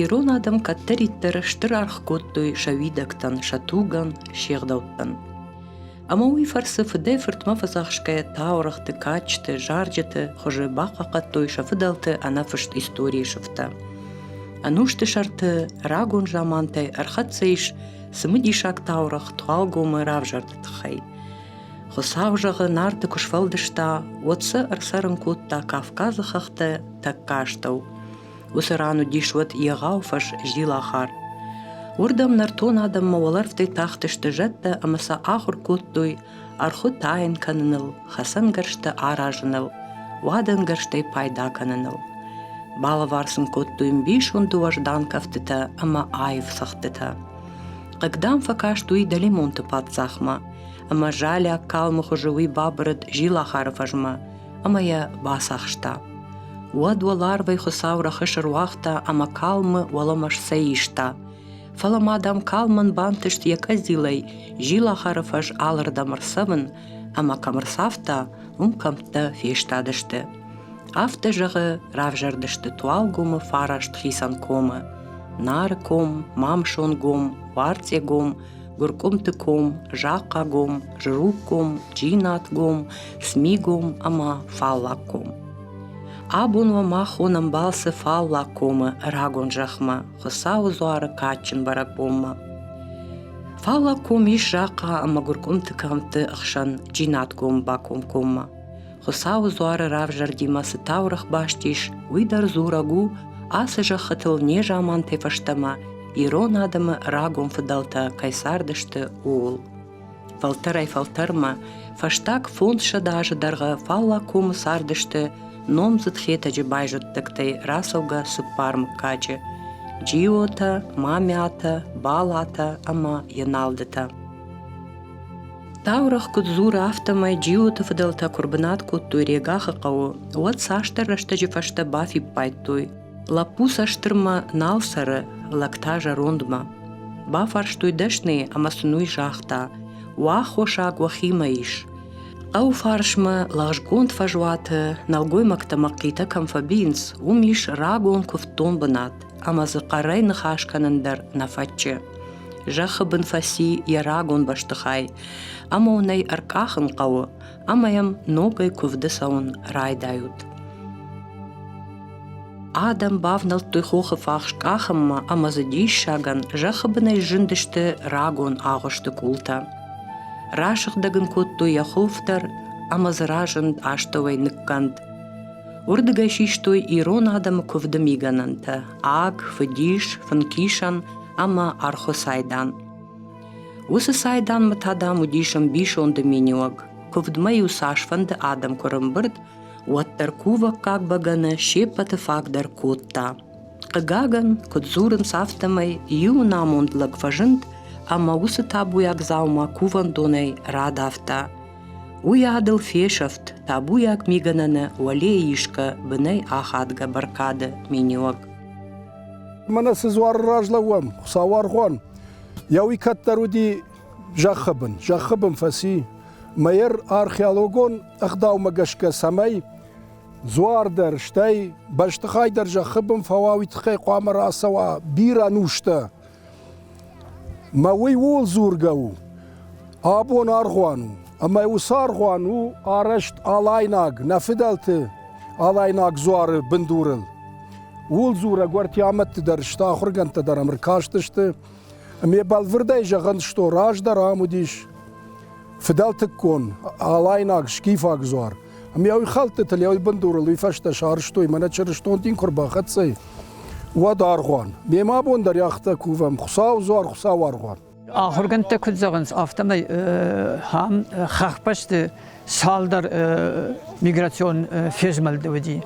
Ирон адӕм кӕддӕриддӕр стыр аргъ кодтой сӕ уидӕгтӕн, сӕ тугӕн, се гъдӕуттӕн. Ӕмӕ уый фӕрцы фыдӕй-фыртмӕ фӕдзӕхсгӕ таурыхъты, кадджыты, зарджыты хуызы бахъахъхъӕдтой сӕ фыдӕлты ӕнӕфыст историйы сыфтӕ. Ӕнусты сӕрты рагон замантӕй ӕрхӕццӕ ис цымыдисаг таурыхъ Туалгомы равзӕрды тыххӕй. Хуыцау зӕгъы, Нарты куы сфӕлдыста, уӕд сӕ ӕрцӕрын кодта Кавказы хӕхтӕ тӕккӕ астӕу. Уыцы ран уыдис уӕд егъау фӕз Зилахар. Уырдӕм нӕртон адӕммӕ уӕлӕрвтӕй тахтысты зӕдтӕ ӕмӕ сӕ ахуыр кодтой ӕрхуы тайын кӕныныл, хӕцӕнгӕрзтӕ аразыныл, уадӕнгӕрзтӕй пайда кӕныныл. Балӕвар сын кодтой мбисонды уӕздан кӕфтытӕ ӕмӕ аив цӕгъдтытӕ. Хъыг дам фӕкаст уый Далимонты паддзахмӕ, ӕмӕ залиаг калмы хуызы уый бабырыд Зилахары фӕзмӕ, ӕмӕ йӕ бацахста. Уӕд уӕларвӕй Хуыцау рӕхысы руагъта ӕмӕ калмы уӕлӕмӕ сцӕйиста. Фӕлӕ ма дам калмӕн бантыст йӕ къӕдзилӕй зилахары фӕз алырдӕм ӕрцӕвын, ӕмӕ кӕм ӕрцавта, уым кӕмттӕ фестадысты. Афтӕ зӕгъы, равзӕрдысты Туалгомы фараст хицӕн комы. Нары ком, Мамсон гом, Уарцъе гом, Гуыркъуымты ком, Захъхъагом, Жруггом, Джинатгом, Смигом ӕмӕ Фаллаггом. Абон уӕ махон ӕмбалцы Фаллаг комы рагон зӕхмӕ, Хуыцауы дзуары кадджын бӕрӕгбонмӕ. Фаллаг ком ис Захъа ӕмӕ Гуыркъуымты кӕмтты ӕхсӕн Джинатгом бакомкоммӕ. Хуыцауы дзуары равзӕрдимӕ цы таурӕгъ баст ис, уый дӕр дзурӕг у ацы зӕххытыл незамантӕй фӕстӕмӕ ирон адӕмы рагон фыдӕлтӕ кӕй цардысты, ууыл. Фӕлтӕрӕй фӕлтӕрмӕ фӕстаг фондзсӕдз азы дӕргъы Фалла комы цардысты номдзыд Хетӕджы байзӕддӕгтӕй рацӕугӕ цыппар мыггаджы – Джиотӕ, Мамиатӕ, Балатӕ ӕмӕ Еналдытӕ. Таурӕгъ куыд дзуры, афтӕмӕй Джиоты фыдӕлтӕ куы рбынат кодтой Регахы хъӕуы, уӕд цасдӕр рӕстӕджы фӕстӕ бафиппайдтой, лӕппу сӕ стырмӕ нал цӕры, лӕг та зӕрондмӕ. Бафарстой дӕсныйы ӕмӕ сын уый загъта: «Уӕ аххосаг уӕхимӕ ис». Хъӕуы фарсмӕ лӕгъзгонд фӕзуаты нӕлгоймӕгтӕ мӕхъхъитӕ кӕм фӕбийынц, уым ис рагон куывддон бынат. ӕмӕ дзы хъӕрӕй ныхас кӕнын дӕр нӕ фӕтчы. Зӕххы бын фӕци йӕ рагон бӕстыхай, ӕмӕ уын ӕй ӕркъахын хъӕуы, ӕмӕ йӕм ногӕй куывды цӕуын райдайут. Адӕм бавнӕлдтой хохы фахс къахынмӕ ӕмӕ дзы диссагӕн зӕххы бынӕй зындысты рагон агъуысты къултӕ. Расыгъдӕг ын кодтой йӕ хов дӕр ӕмӕ дзы разынд астӕуӕй ныккӕнд. Уырдыгӕй систой ирон адӕмы куывды мигӕнӕнтӕ аг, фыдис, фынкисӕн ӕмӕ архуы цайдан. Уыцы цайданмӕ та, дам, уыдис ӕмбисонды миниуӕг. Куывдмӕ-иу цасфӕнды адӕм куы рымбырд, уӕддӕр кувӕггаг бӕгӕны се ппӕты фаг дӕр кодта. Хъыгагӕн, куыд дзурынц, афтӕмӕй иу намонд лӕг фӕзынд ӕмӕ уыцы табуйаг дзаума кувӕндонӕй радавта – Уый адыл фесӕфт табуйаг мигӕнӕны уӕлейы исгӕ бынӕй ахадгӕ бӕркады миниуӕг. Мӕнӕ цы дзуары разлӕууӕм, Хуыцауы аргъуан. Йӕ уый кӕддӕр уыди зӕххы бын. Зӕххы бын фӕци. Мӕер археологон ӕгъдаумӕ гӕсгӕ цӕмӕй дзуар дӕр, стӕй бӕстыхай дӕр зӕххы бын фӕуа, уый тыххӕй хъуамӕ рацӕуа бирӕ нустӕ. Мӕ уый ууыл дзургӕ у, абон аргъуан у, ӕмӕ уыцы аргъуан у арӕзт алайнаг, нӕ фыдӕлты алайнаг дзуары бындурыл. Ууыл дзурӕг Уӕртиамӕтты дӕр сты ахуыргӕндтӕ дӕр ӕмӕ ркастысты. Ме бӕлвырдӕй зӕгъын сто, раздӕр ам уыдис фыдӕлтыккон, алайнаг, скифаг дзуар. Ӕмӕ уый хӕлдтытыл, йӕ уый бындурыл уый фӕстӕ сарызтой, мӕнӕ чырыстон дин куы рбахӕццӕ, уӕд аргъуан. Мемӕ абон дӕр йӕхтӕ кувӕм, Хуыцау дзуар, Хуыцау аргъуан. Ахуыргӕндтӕ куыд зӕгъынц, афтӕмӕй ам хӕхбӕсты цалдӕр миграцион фезмӕлд уыди.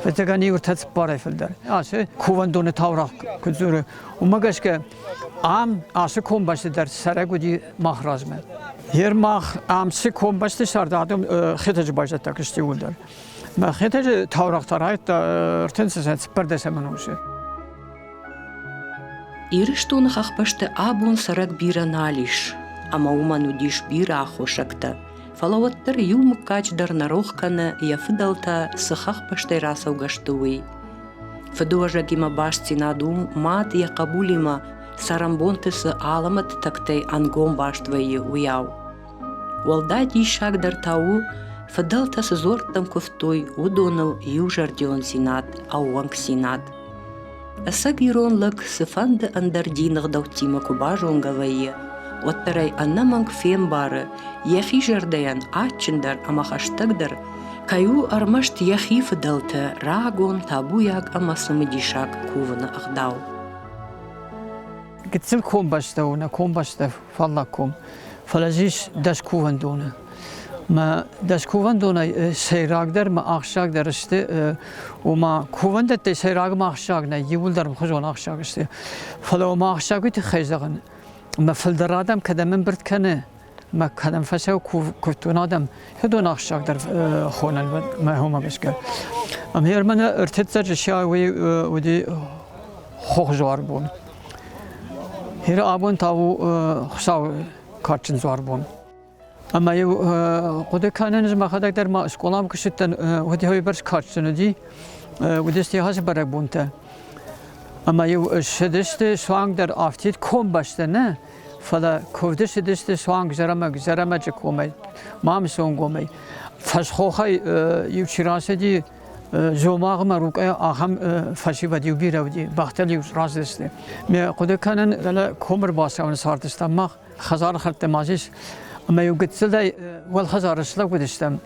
Фыццагӕн иу ӕртӕ цыппарӕй фылдӕр. Ацы кувӕндоны таурӕгъ куыд дзуры, уымӕ гӕсгӕ Ам ацы комбӕсты дӕр цӕрӕг уыди мах размӕ. Ер мах ам цы комбӕсты сӕрд адӕм Хетӕджы байзӕдтаг сты уый дӕр. Мӕ Хетӕджы таурӕгътӕ райдта ӕртынсӕсӕн цыппӕрдӕсӕмӕн онсы. Ирыстоны хӕхбӕсты абон цӕрӕг бирӕ нал ис, ӕмӕ уымӕн уыдис бирӕ аххосӕгтӕ. Фӕлӕ уӕддӕр иу мыггач дӕр нӕ рох кӕны, йӕ фыдӕлтӕ цы хӕхбӕстӕй рацӕугӕ сты, уый. Фыдуӕзӕгимӕ бастдзинад у мад йӕ хъӕбулимӕ цӕрӕнбонты цы алӕмӕты тӕгтӕй ӕнгом баст вӕййы, уыйау. Уӕлдай диссагдӕр та у, фыдӕлтӕ цы дзуӕрттӕм куывтой, уыдоныл иузӕрдиондзинад, ӕууӕнкдзинад. Ӕцӕг ирон лӕг цыфӕнды ӕндӕр дины гъдӕуттимӕ куы базонгӕ вӕййы, уӕддӕр ӕй ӕнӕмӕнг фембары, йӕхи зӕрдӕйӕн адджындӕр ӕмӕ хӕстӕгдӕр кӕй у ӕрмӕст йӕхи фыдӕлты рагон, табуйаг ӕмӕ цымыдисаг кувыны ӕгъдау. Гыццыл комбӕстӕ у нӕ комбӕстӕ фаллаг ком, фӕлӕ зис дӕс кувӕндоны. Мӕ дӕс кувӕндонӕй сӕйрагдӕр мӕ ахсджагдӕр сты, ома кувӕндӕттӕй сӕйраг мӕ ахсджаг нӕй, иууылдӕр мхуызон ахсджаг сты. Фӕлӕ ома ахсджагы тыххӕй зӕгъын, мӕ фылдӕр адӕм кӕдӕм ӕмбырд кӕны, ма кӕнӕм фӕсау кодтон адӕм хедон ахсагдар хонӕн мӕ хомӕ гӕсгӕ. Ами ӕрмӕн ӕртӕццӕджы си уыди хохзуар бон. Хир абон тау хсау карчын зуар бон. Ама еу хъуды кӕнен махадак дӕр ма скъолам куыстыттен уыди хойбӕрс карчын уыди уыди стихасы бӕрӕгбонтӕ. Ама еу шыдысты суанг дӕр афтид комбӕстӕ нӕ фӕлӕ куывды цыдысты суанг Зӕрӕмӕг, Зӕрӕмӕджы комӕй, Мамысонгомӕй. Фӕсхохӕй иу чи рацыди, Зомагъмӕ рукъӕй ахӕм фӕсивӕд иу бирӕ уыди, бӕхтыл-иу раздысты. Ме хъуыды кӕнын, дӕлӕ комы рбацӕуын сфартыстам мах, хӕдзары хӕрдтӕ ма ис, ӕмӕ-иу гыццылӕй уӕлхӕдзары слӕг уыдыстӕм.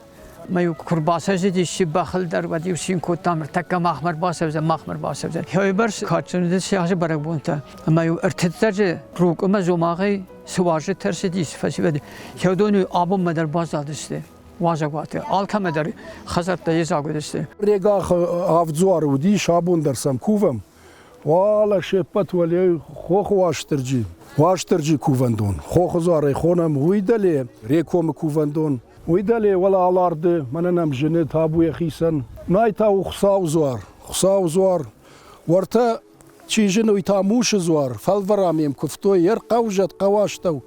Мӕ куы рбацӕйзидис си бӕхыл дӕр, уӕд-иу цин кодтам, ныртӕккӕ махмӕ ӕрбацӕудзӕн, махмӕ ӕрбацӕудзӕн. Хӕйбӕрс кадджын уыдис сиахсы бӕрӕгбонтӕ, ӕмӕ-иу ӕртыццӕджы Рукъымӕ Зомагъӕй цы уазджытӕ ӕрцыдис, фӕсивӕд Хеодон-иу абонмӕ дӕр баззадысты уазӕгуаты. Алкӕмӕ дӕр хӕдзӕрттӕ йедзаг уыдысты. Регахы авд дзуары уыдис, абон дӕр сӕм кувӕм. Уалӕ се ппӕт уӕле хохы Уастырджи, Уастырджи кувӕндон. Хохы дзуарӕй хонӕм уый дӕле Рекомы кувӕндон. Уый дӕле уӕлӕ аларды мӕнӕн ам зыны табуйӕ хицӕн. Нӕй та у Хуцауы дзуар. Хуцауы дзуар. Уӕртӕ чи зыны, уый та мусы дзуар. Фӕлвӕрам йӕм куывтой йе рхъӕузӕт хъӕуастӕу.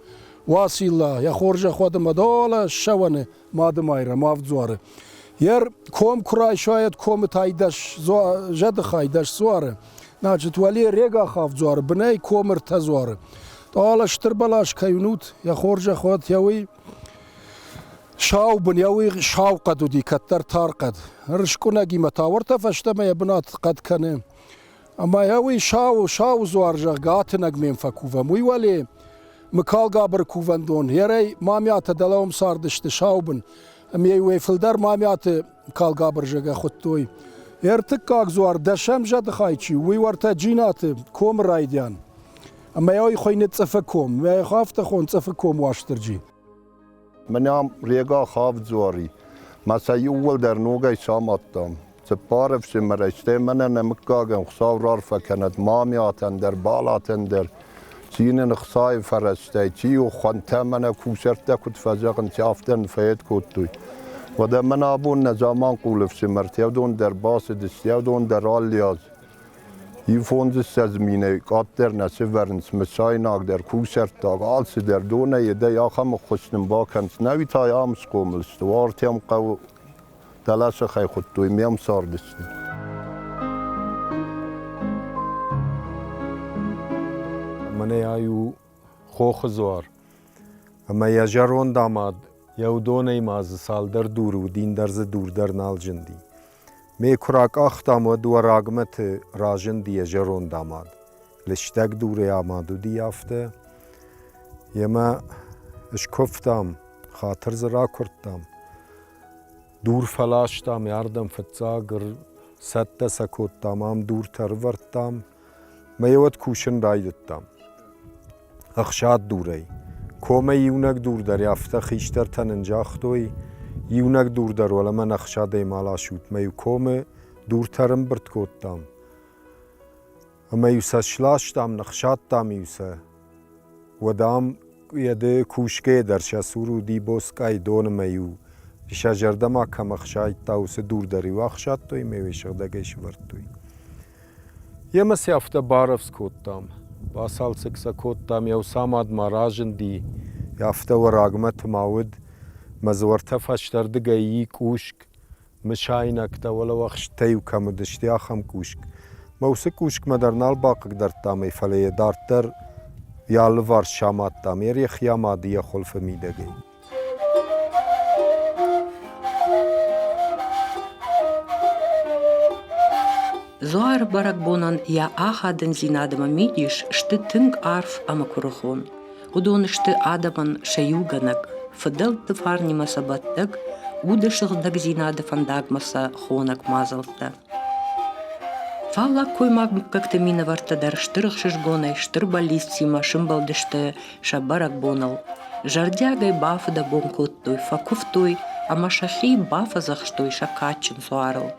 Уацилла, йӕ хорзӕх уӕд ӕмӕ долӕ ссӕуӕны. Мадымайрӕм ӕвдзуары. Ер ком куы райсайӕд комы тайдӕс зӕдыхай дӕс дзуары. Значит, уӕле регах ӕвдзуары, бынӕй комы ртӕ дзуары. Тъала стыр бӕлас кӕй унут, йӕ хорзӕхуад йӕ уый сау бын йӕ уый сау хъӕд уыди, кӕддӕр тар хъӕд. Рыскъуынӕгимӕ та уӕртӕ фӕстӕмӕ йӕ бынат хъӕд кӕны. Ӕма йӕ уый Сау, Сау дзуар, зӕгъгӕ, атынӕг ме фӕкувӕм. Уый уӕле Мыкалгабыр кувӕндон, ерӕй мамиатӕ дӕлӕ уым цардысты саубын, ӕмӕ уӕ фылдӕр мамиаты калгабыр зӕгӕ хуыдтой. Ӕртыккаг дзуар дӕсӕм зӕды хай чи у, уый уартӕ Джинаты комы райдиан. Ӕмӕ йӕ уый хуыйны Цъыфы ком, йӕ афтӕ хон Цъыфы ком Уастырджи. Мынӕм Рега хӕвдзуари, мӕ сӕ иууылдӕр ногӕй самадтам. Цыппар ӕфсымӕрӕй, стӕй мӕнӕ нӕ мыггагӕн Хуыцау рарфӕ кӕнӕд мамӕтӕн дӕр, балатӕн дӕр, цины ӕхцайы фӕрӕзтӕй, чи у хуӕнтӕ мӕнӕ кусӕрттӕ куыд фӕзӕгъынц, афтӕ ын фӕед кодтой. Уӕдӕ мӕн абон нӕ заманхъул ӕфсымӕр Теодон дӕр бацыдис, Теодон дӕр алли аз Иу фондзыссӕдз минӕй къаддӕр нӕ сӕвӕрынц, мысайнагдӕр, кусӕрттаг, алцыдӕр, донӕй едӕй ахӕм ӕххуыс нын бакӕнынц. Науи та ам схъомыл сты, уартӕм хъӕуы дӕлӕсыхӕй хуыдтой, ме мцарды сты. Мӕнӕ ай у хохы дзуар. Ӕмӕ йӕ зӕронд амад, йӕ уыдонӕй ма дзы цалдӕр дуры уыди, ӕндӕр дзы дур дӕр нал зынди. Ме куы ракъахтам, уӕд Уӕрагмӕты разынди йӕ зӕронд амад. Лыстӕг дурӕй амад уыди афтӕ. Йемӕ скуывтам, хатыр дзы ракуырдтам. Дур фӕластам, ардӕм фыццаг цӕттӕ сӕ кодтам, ам дуртӕ ӕрывӕрдтам. Мӕ уӕд кусын райдыдтам. Ӕхсад дурӕй. Комӕй иунӕг дур дӕр, афтӕ хистӕртӕ нын загътой, иунӕг дур дӕр уӕлӕмӕн ӕхсадӕй ма ласут, мӕ иу комы дуртӕ рымбырд кодтам. Ӕмӕ-иу сӕ сластам, ныхсадтам-иу сӕ. Уӕдам еде кусгӕ дӕр сӕ цур уди боцкъай донмӕ еу. Сӕ зӕрдӕмӕ кӕм ӕхсайдта, уыцы дур дӕр-иу ӕхсадтой ӕмӕ йӕ сыгъдӕгӕй сӕвӕрдтой. Емӕ сӕ афтӕ барӕвдз кодтам. Бацалцӕг сӕ кодтам, йӕ Усамадмӕ разынди. Афтӕ уӕрагмӕ тыма уыд. Мӕ дзуартӕ фӕстӕрдыгӕй и къусг. Мысайнӕгтӕ уӕлӕ уӕхстӕй-иу кӕм уыдысты, ахӕм кусг. Мӕ уыцы кусгмӕ дӕр нал бахъыгдардтам ӕй, фӕлӕ йӕ дарддӕр йӕ алыварс самадтам, йӕ рӕхи амады йӕ хуылфы мидӕгӕй. Зуары бӕрӕгбонӕн йӕ ахадындзинадмӕ мидис сты тынг арф ӕмӕ куырыхон. Уыдон сты адӕмӕн сӕ иугӕнӕг, фыдӕлтты фарнимӕ сӕ бӕттӕг, уды сыгъдӕгдзинады фӕндагмӕ сӕ хонӕг мадзӕлттӕ. Фаллаг коймаг мыггӕгты минӕвӕрттӕ дӕр стыр ӕхсызгонӕй, стыр бӕллицтимӕ сымбӕлдысты сӕ бӕрӕгбоныл. Зӕрдиагӕй бафыдӕбон кодтой, фӕкуывтой ӕмӕ сӕхи бафӕдзӕхстой сӕ кадджын суарыл.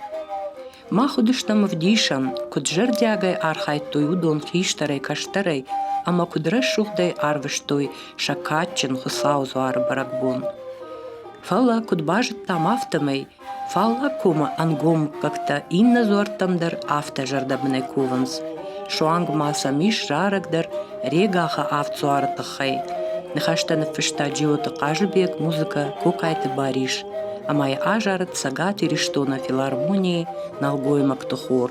Мах уыдыстӕм ӕвдисӕн, куыд зӕрдиагӕй архайдтой уыдон хистӕрӕй-кӕстӕрӕй ӕмӕ куыд рӕсугъдӕй арвыстой сӕ кадджын Хуыцауы дзуары бӕрӕгбон. Фӕлӕ, куыд базыдтам, афтӕмӕй Фаллаг комы ӕнгом мыггӕгтӕ иннӕ дзуӕрттӕм дӕр афтӕ зӕрдӕбынӕй кувынц. Суанг ма сӕм ис рӕрӕгдӕр Регахы авдсуары тыххӕй. Ныхӕстӕ ныффыста Джиоты Хъазыбег, музыкӕ – Кокайты Барис, ӕмӕ йӕ азарыд Цӕгат Ирыстоны филармонийы нӕлгоймӕгты хор.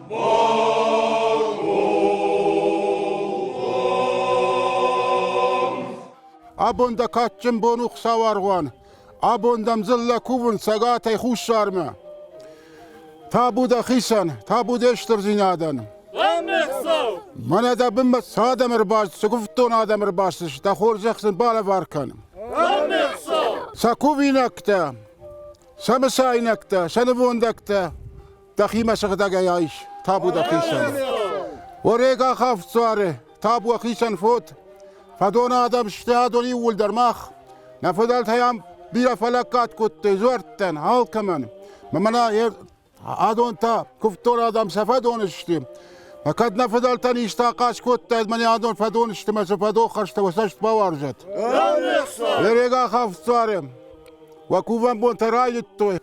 Абон дӕ кадджын бон у, Хуыцауаргъуан! Абон дӕм дзыллӕ кувын цӕгатӕй хуссармӕ. Табу дӕхицӕн, табу де стырдзинадӕн! Мӕнӕ дӕ бынмӕ цы адӕм ӕрбаст, цы гуывддон адӕм ӕрбастыс, дӕ хорзӕх сын балӕвар кӕн. Сӕ кувинӕгтӕ, сӕ мысайнӕгтӕ, сӕ нывондӕгтӕ Дӕхимӕ сыгъдӕгӕй айс, табу дӕхицӕн. Орек ахав цуары, табу ӕхицӕн фод. Фӕдоны адӕм сты адон иууылдӕр мах. Нӕ фыдӕлтӕй ам бирӕ фӕлӕггад кодтой дзуӕрттӕн, алкӕмӕн. Мӕнӕ адон та куывддор адӕм сӕ фӕдон сты. Мӕ кӕд нӕ фыдӕлтӕн исты ахъаз кодтаид, мӕнӕ адон фӕдон сты мӕ цы фӕдоххӕстӕ уӕ цӕст бауарзӕт. Лерек ахав цуары. Уӕ кувӕн бонтӕ райдыдтой.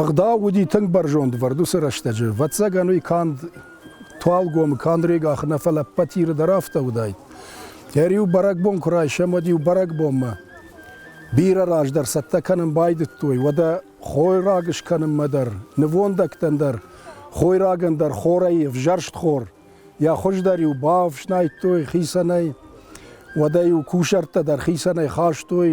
Ӕгъдау уыди тынг бӕрзондвӕрд уыцы рӕстӕджы. Вӕццӕгӕн уый канд Туалгомы, Кандрегахы нӕ, фӕлӕ Ппатиры дӕр афтӕ уыдаид. Ӕриу бӕрӕгбон куы райсӕм, уӕд-иу бӕрӕгбонмӕ бирӕ раздӕр цӕттӕ кӕнын байдыдтой, уӕдӕ хойраг скӕнынмӕ дӕр, нывондӕгтӕн дӕр, хойрагӕн дӕр хорӕй ӕвзӕрст хор. Йӕ хуыздӕр-иу бафснайдтой хицӕнӕй, уӕдӕ-иу кусӕрттӕ дӕр хицӕнӕй хастой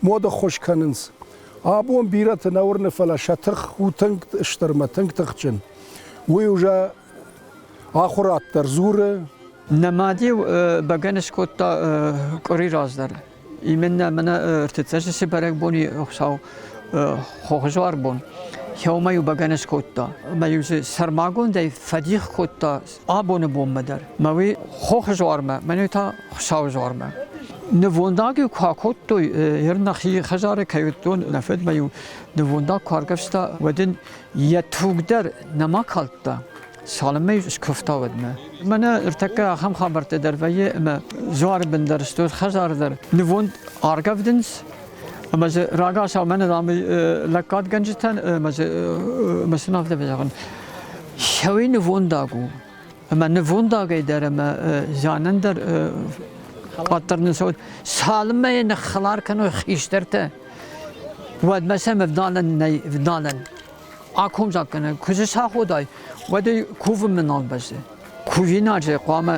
моды ӕххуыс кӕнынц. Абон бирӕты нӕ уырны, фӕлӕ сӕ тых у тынг стырмӕ, тынг тыхджын. Уый уже ахуырад дӕр дзуры. Нӕ мад-иу бӕгӕны скодта къуыри раздӕр. Именно мӕнӕ ӕртыцӕсӕсе бӕрӕгбони Хуцау хохзуар бон. Еумӕ-иу бӕгӕны скодта. Ӕма-иу сӕрмагондӕй фӕдих кодта абоны бонмӕ дӕр. Мӕуи хохы жуармӕ, мӕнӕ та Хуыщауы жуармӕ. Нывондаг-иу куы акодтой, ер нӕхи хӕзары кӕй уыдтон, нӕ фыдмӕ-иу нывондаг куы аргӕвста, уӕд ын йӕ туг дӕр нӕма калдта. Салымӕй скуывта уӕдмӕ. Мӕнӕ ӕртӕккӕ ахӕм хабӕрттӕ дӕр вӕййы, ӕмӕ жуары бын дӕр стут, хӕзары дӕр нывонд аргӕвдынц, ӕмӕ дзы рагацау мӕнӕ ам лӕггадгӕнджытӕн ӕмӕ дзы мӕ сын афтӕ фӕзӕгъын. Хӕуи нывондаг у. Ӕмӕ нывондагӕй дӕр ӕмӕ зианӕн дӕр къаддӕр нӕ цалынмӕ йӕ ныххӕлар кӕной хистӕртӕ, уӕдмӕ сӕм вдалӕн нӕй, вдалӕн. Акомзаггӕнӕг куы саходай, уӕд ӕй кувынмӕ нал бӕззы. Кувинаг же хъуамӕ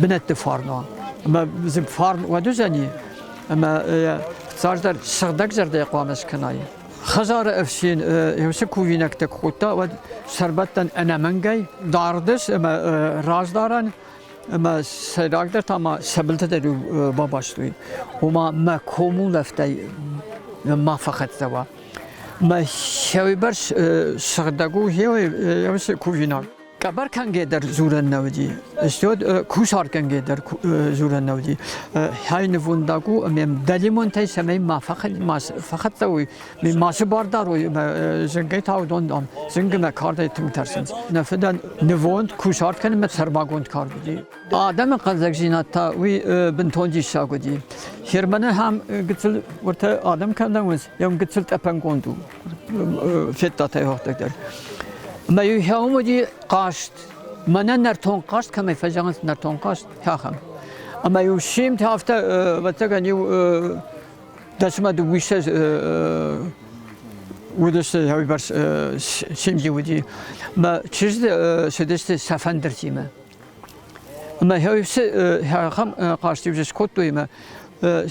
бынӕтты фарн уа. Ӕмӕ фарн уӕд уыдзӕни, ӕмӕ цасдӕр сыгъдӕг зӕрдӕ хъуамӕ скӕнай. Хӕдзары ӕфсин еусе кувинӕгтӕ ку кодта, уӕд сӕрбӕттӕн ӕнӕмӕнгӕй дардес ӕма раздарӕн ӕма сӕйрагдӕр та ма сӕбилтӕ дӕр бабастой. Ома мӕ комулӕфтӕй ма фӕхӕццӕ уа. Мӕ хеуебӕр сыгъдӕг у еусе кувинаг. Къӕбӕр кӕнгӕ дӕр дзурӕн нӕ уыди. Стод кусар кӕнгӕ дӕр дзурӕн нӕ уыди. Хай нывондаг у, ме дӕлимонтӕй сӕмӕй ма фӕхӕццӕ уй, ме масы бардар уй, зынгӕй та уыдон дам зынгы мӕ кардӕй тынг тӕрсынц. Нӕ фыдӕн нывонд кусарт кӕнынмӕ сӕрмагонд кард уыди. Адӕмы хъӕлдзӕгдзинад та уый бынтон диссаг уыди. Херманы хам гыццыл уыртӕ адӕм кӕм нӕ уынц, йӕм гыццыл тъӕпӕнгонд у. федтатӕй гъӕгтӕг дӕр. Мӕ хеумуди хъаст, мӕнӕ нӕртон хъаст кӕмӕй фӕзӕгъынц нӕртон хъаст, хахам. Ӕмӕ иу симтӕ афтӕ, ӕвӕццӕгӕн, иу дӕсмӕ дыууиссӕ уыдысты уыйбӕрц симди уыди. Мӕ чызг цыдысты сӕ фӕндыртимӕ. Мӕ хьусы хахам хъастивжы скодтой мӕ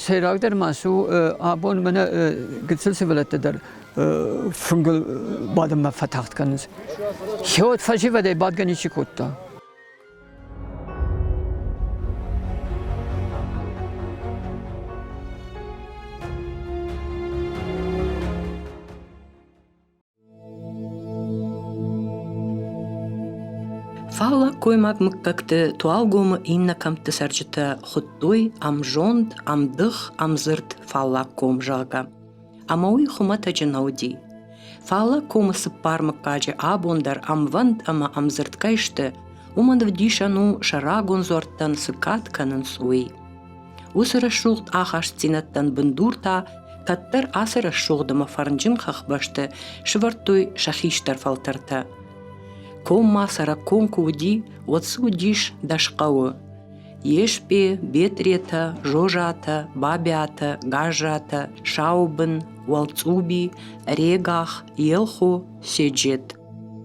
сӕйрагдӕр ма су абон мӕнӕ гыццыл сывӕллӕттӕ дӕр фынгыл бадынмӕ фӕтагъд кӕнынц. Хеот фӕсивӕдӕй бадгӕ ничи кодта. Фаллаг гоймаг мыггӕгты туалгомы иннӕ кӕмтты цӕрджытӕ хуыдтой ӕмзонд, ӕмдых, ӕмдзырд фаллаг ком, зӕгъгӕ. Ӕмӕ уый хуымӕтӕджы нӕ уыди. Фаллаг комы цыппар мыггаджы абон дӕр ӕмвӕнд ӕмӕ ӕмдзырд кӕй сты, уымӕн ӕвдисӕн у, сӕ рагон дзуӕрттӕн цы кад кӕнынц, уый. Уыцы рӕсугъд ахастдзинӕдтӕн бындур та кӕддӕр ацы рӕсугъд ӕмӕ фӕрнджын хӕхбӕсты сывӕрдтой сӕ хистӕр фӕлтӕртӕ. Ком ма сӕракком куы уыди, уӕд цы уыдис дӕс хъӕуы. Еспе, Бетъретӕ, Жожатӕ, Бабиатӕ, Гажжатӕ, Шаубын, Уалцъуби, Регах, Елхо, Седжет.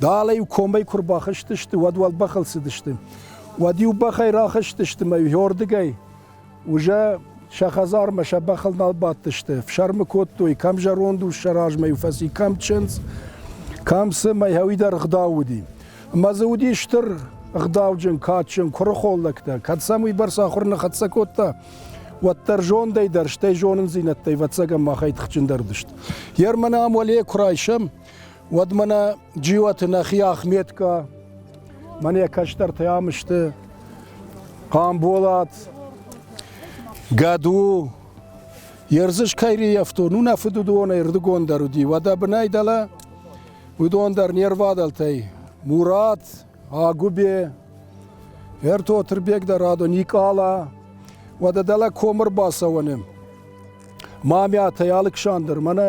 Дӕлӕ-иу комӕй куы рбахызтысты, уӕд уӕлбӕхыл цыдысты. Уӕд-иу бӕхӕй рахызтысты мӕ уӕрдыгӕй. Уже сӕ хӕдзармӕ сӕ бӕхыл нал бадтысты. Фсӕрмы кодтой, кӕм зӕронд ус сӕ размӕ-иу фӕци, кӕм чындз, кӕм цы мӕ хауи дӕр ӕгъдау уыди. Ӕмӕ дзы уыди стыр ӕгъдауджын, кадджын куырыхон лӕгтӕ. Кӕд сӕм уыйбӕрц ахуыр ныхӕццӕ кодта, уӕддӕр зондӕй дӕр, стӕй зонындзинӕдтӕй вӕццӕгӕн махӕй тыхджындӕр уыдысты. Ер мӕнӕ ам уӕле куы райсӕм, уӕд мӕнӕ Джиоты нӕхи Ахметка, мӕнӕ кӕстӕртӕ ам сты Хъамболат, Гӕду, Ерзыс Кайриевтон, у нӕ фыд уыдонӕй рдыгон дӕр уыди, уӕдӕ бынӕй дӕлӕ уыдон дӕр не рвадӕлтӕй Мурат, Агуыбе, Ертотырбег дӕр адон Никъала, уӕдӕ дӕлӕ ком ӕрбацӕуӕны Мамиатӕй Алыксандр, мӕнӕ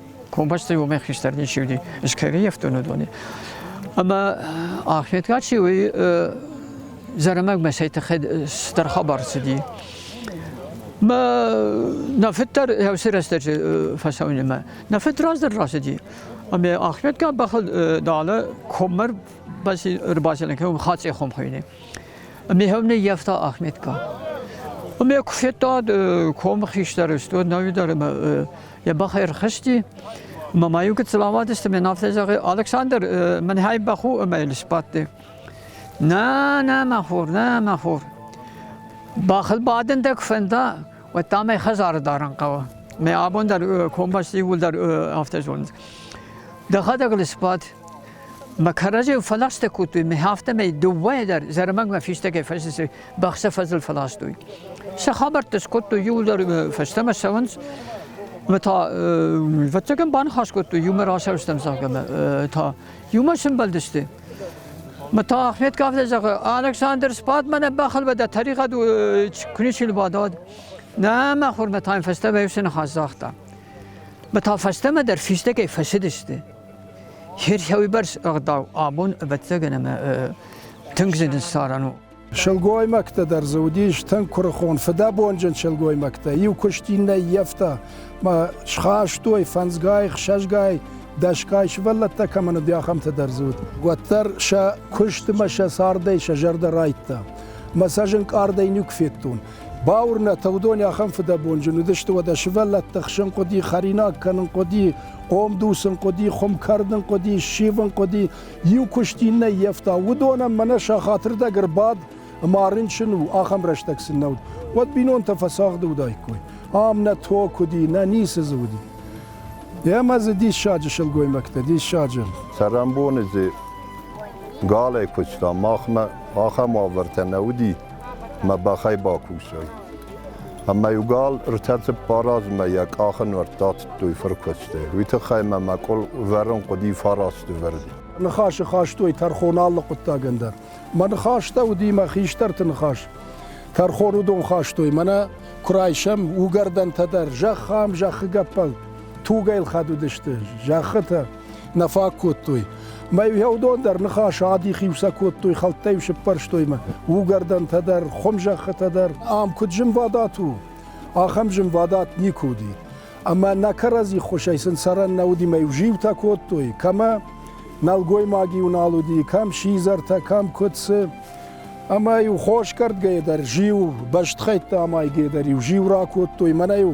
Комбастӕй уомӕ хистӕр ничи уди, скӕри ефтонадони. Ӕма Ахметгат си уой зӕрӕмӕг мӕсӕй тӕхӕд стӕр хабар цуди. Ма на фиттар еуси рӕстӕджи фӕсаунемӕ. На фит раздӕр рацыди. Ами Ахметгат бахад далӕ коммар рбацелен кӕнун хацъе хом хуйни. Ами хевне ефта Ахметка. Ами куфеттад ком хистӕр стод навидар ӕма Йӕ бӕх ӕрхызти, мамӕ йу куыд сламадысты, мен афтӕ зӕгъы, Александр, мын хай баху ӕмӕ йыл сбадты. Нӕ, нӕ, мӕ хур, нӕ, мӕ хур. Бӕхыл бадын дӕ куы фӕнда, уӕд та мӕ хӕдзары дарын хъӕуы. Мӕ абон дӕр комбӕсты иууылдӕр афтӕ зонынц. Дӕхӕдӕг ыл сбад, Ма кӕрӕжи фаластӕ кодтой, ме афтӕмӕй дыууӕ дӕр зӕрмӕгмӕ фистӕгӕй фӕсесӕй бӕхсӕ фӕзыл фаластой. Сӕ хабӕрттӕ скодтой, иууылдӕр фӕстӕмӕ сӕвӕнц, ӕмӕ та ӕвӕццӕгӕн баныхас кодтой, иумӕ расӕрстам, зӕгъгӕ, ӕмӕ та иумӕ сымбӕлдысты. Ма та Ахмед Кавда зӕгъы, Александр сбад мӕнӕ бӕхыл бадӕ, тӕригъӕд куы ничи бадад. Нӕ, мӕ хурмӕ та фӕстӕмӕ ефсны хас загъта. Ма та фӕстӕмӕ дӕр фистӕгӕй фӕсыдысты. Херсауибарс ӕгъдау абон, ӕвӕццӕгӕн, ӕмӕ тынг зын саран у. Сылгоймӕгтӕ дӕр дзы уыдис тынг куырыхон, фыдӕбонджын сылгоймӕгтӕ. Иу куыст иннӕ ӕййӕфта, мӕ схастой фӕндзгай, хсӕзгай, дӕсгай сывӕллӕттӕ кӕмӕн уыди, ахӕмтӕ дӕр дзы уыд. Уӕддӕр сӕ куыст ӕмӕ сӕ цардӕй сӕ зӕрдӕ райдта. Мӕ сӕ зынкъардӕй нюк федтон. Бауырнӕт, уыдон ахӕм фыдӕбонджын уыдысты уӕдӕ сывӕллӕтты хсын хъуыди, хӕринаг кӕнын хъуыди, хъомдуцын хъуыди, хуым кӕрдын хъуыди, ссивын хъуыди, иу куыст иннӕ ййӕфта. Уыдонӕн мӕнӕ сӕ хатырдӕг ӕрбад ӕмӕ рынчын у, ахӕм рӕстӕг сын нӕ уыд. Уӕд бинонтӕ фӕцагъды уыдаиккой. Ам нӕ ток уыди, нӕ ницы дзы уыди. Ӕмӕ дзы диссаджы сылгоймӕгтӕ, диссаджы. Цӕрӕнбоны дзы галӕй куыста. Махмӕ ахӕм уавӕртӕ нӕ уыди. мӕ бӕхӕй бакусӕй. Ӕмӕ иу гал ртӕ цыппар размӕ йӕ къахы нуӕртт атыдтой фыркуыстӕй. Уый тыххӕй мӕ мӕ къул вӕрын хъуыди фарасты вӕрди. Ныхасы хастой тӕрхон алы хъуыддагӕн дӕр. Мӕ ныхӕстӕ уыди мӕ хистӕрты ныхас. Тӕрхон уыдон хастой, мӕнӕ куы райсӕм уыгӕрдӕнтӕ дӕр, зӕхх ам, зӕххы гӕппӕл, тугӕй лхӕд уыдысты, зӕххытӕ. нӕ фаг кодтой. Мӕ уӕдон дӕр ныхас адих-иу сӕ кодтой, хӕлттӕ-иу сыппӕрстой мӕ угӕрдӕнтӕ дӕр, хуымзӕххытӕ дӕр. Ам куыд зынвадат у, ахӕм зынвадат никуы уыди. Ӕмӕ нӕ кӕрӕдзи ххуысӕй сын цӕрӕн нӕ уыди, мӕ иу зиутӕ кодтой, кӕмӕ нӕлгоймаг-иу нал уыди, кӕм сидзӕртӕ, кӕм куыд цы. Ӕмӕ-иу хосгӕрдгӕйӕ дӕр зиу, бӕстыхӕйтты амайгӕйӕ дӕр-иу зиу ракодтой, мӕнӕ-иу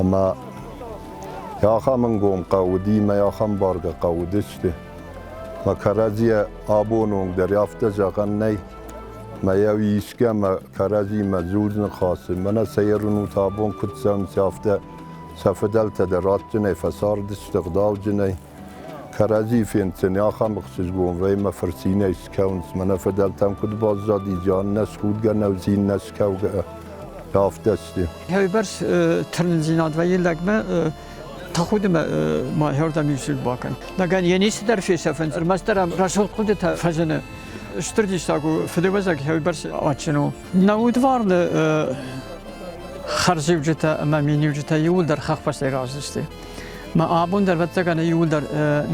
ӕмӕ ахӕм ӕнгом хъӕу уыди мӕ ахӕм бӕргӕ хъӕу уыдысты. Мӕ кӕрӕдзийӕ абон онг дӕр афтӕ зӕгъӕн нӕй, мӕйау искӕмӕ кӕрӕдзимӕ дзурын хъӕцы. Мӕнӕ сӕ ерын у та абон куыд цӕуынц, афтӕ сӕ фыдӕлтӕ дӕр адджынӕй фӕцардысты, гъдауджынӕй. Кӕрӕдзийы фенддзӕни ахӕм ӕхсызгон, вӕймӕ фырцинӕй скӕуынц, мӕнӕ фыдӕлтӕм куыд баззад изӕн, нӕ схудгӕ нӕудзин, нӕ скӕугӕ афтӕсти. Уойбӕрц тырнындзинад вӕййи лӕгмӕ, тӕхудимӕ ма хӕрдӕм исуд бакӕн. Лӕгӕн йе ницыдӕр фесӕфынц, ӕрмӕстдӕр ӕм рӕсугъд хъуыдытӕ фӕзыны. Стыр диссаг у, фыдыуӕзӕг уойбӕрц адджын у. На удварны хӕрзиуджытӕ ӕмӕ миниуджытӕ иууылдӕр хӕхбӕстӕй раздзысты. Мӕ абон дӕр вӕццӕгӕн иууылдӕр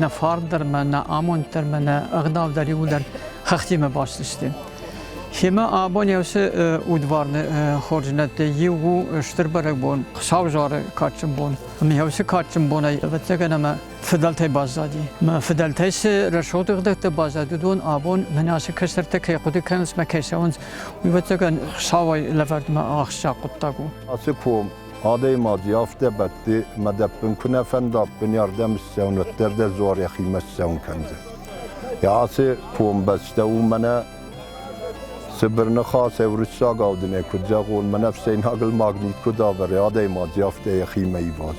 нӕ фарн дӕр мӕ нӕ амонд дӕр мӕ нӕ ӕгъдау дӕр иууылдӕр хӕхтимӕ басдзысты. Хемӕ абони уыцы удварны хорзынӕдты иу у стыр бӕрӕгбон, саузары кадджын бон. Ӕмӕ уыцы кадджын бонӕй ӕвӕццӕгӕн ӕмӕ фидӕлтӕй баззади. Мӕ фидӕлтӕй цы рӕсугъддӕртӕ баззади, уыдон абон мӕн ацы кӕсӕртӕ кӕй хъуыды кӕнынц мӕ кӕсӕнц, уыйбӕрцӕгӕн хсауӕй лӕвӕрдмӕ ахсджиаг хъуыддаг у. Ацы ком адӕймаг йӕ афтӕбӕтты мадӕппын куы нӕ фӕнда, ӕппынӕрдӕм ссӕуын, уӕддӕр дӕ дзуар йӕхимӕ ссӕуын кӕндзӕн. Йӕ ацы комбӕстӕ у мӕнӕ цыбыр ныхас, уырыссагау дын куыд зӕгъон, мӕнӕ фсейнагыл магнит куыд авӕры, адӕймаг афтӕ йӕхимӕ иваз.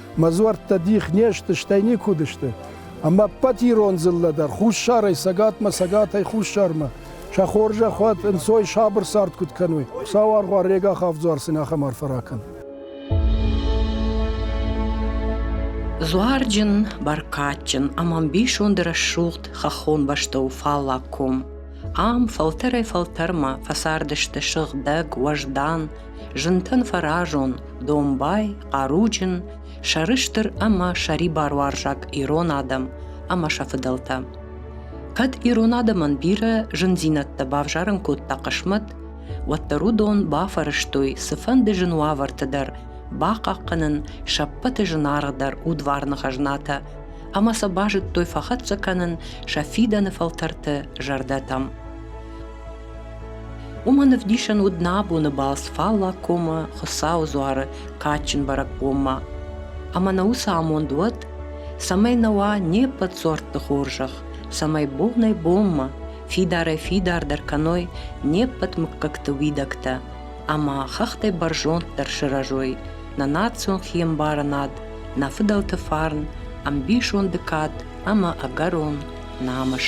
Мӕ дзуӕрттӕ дих не сты, стӕй никуыд сты. Ӕмӕ ӕппӕт ирон дзыллӕ дӕр, хуссарӕй цӕгатмӕ, цӕгатӕй хуссармӕ, сӕ хорзӕхуат ӕнцой сабыр цард куыд кӕной. Хуыцау аргъуар Рега Хавдзуар сын ахӕм арфӕ ракӕн. Дзуарджын, бӕркадджын ӕмӕ ӕмбисонды рӕсугъд хӕххон бӕстӕ у фаллаг ком. Ам фӕлтӕрӕй-фӕлтӕрмӕ фӕцардысты сыгъдӕг, уӕздан, Зынтӕн фӕразон, домбай, хъаруджын, сӕрыстыр ӕмӕ сӕрибаруарзаг ирон адӕм ӕмӕ сӕ фыдӕлтӕ. Кӕд ирон адӕмӕн бирӕ зындзинӕдтӕ бавзарын кодта хъысмӕт, уӕддӕр уыдон бафӕрӕзтой цыфӕнды зын уавӕрты дӕр бахъахъхъӕнын сӕ ппӕты зынаргъдӕр удварны хӕзнатӕ ӕмӕ сӕ базыдтой фӕхӕццӕ кӕнын сӕ фидӕны фӕлтӕрты зӕрдӕтӕм. Уымӕн ӕвдисӕн уыд нӕ абоны балц Фаллаг комы Хуыцауы дзуары кадджын бӕрӕгбонмӕ. Ӕмӕ нӕ уыцы амонд уӕд, цӕмӕй нӕ уа не ппӕт дзуӕртты хорзӕх, цӕмӕй бонӕй-бонмӕ фидарӕй фидардӕр кӕной не ппӕт мыггӕгты уидӕгтӕ ӕмӕ хӕхтӕй бӕрзонддӕр сырӕзой нӕ национ хиӕмбарынад, нӕ фыдӕлты фарн, ӕмбисонды кад ӕмӕ ӕгӕрон намыс.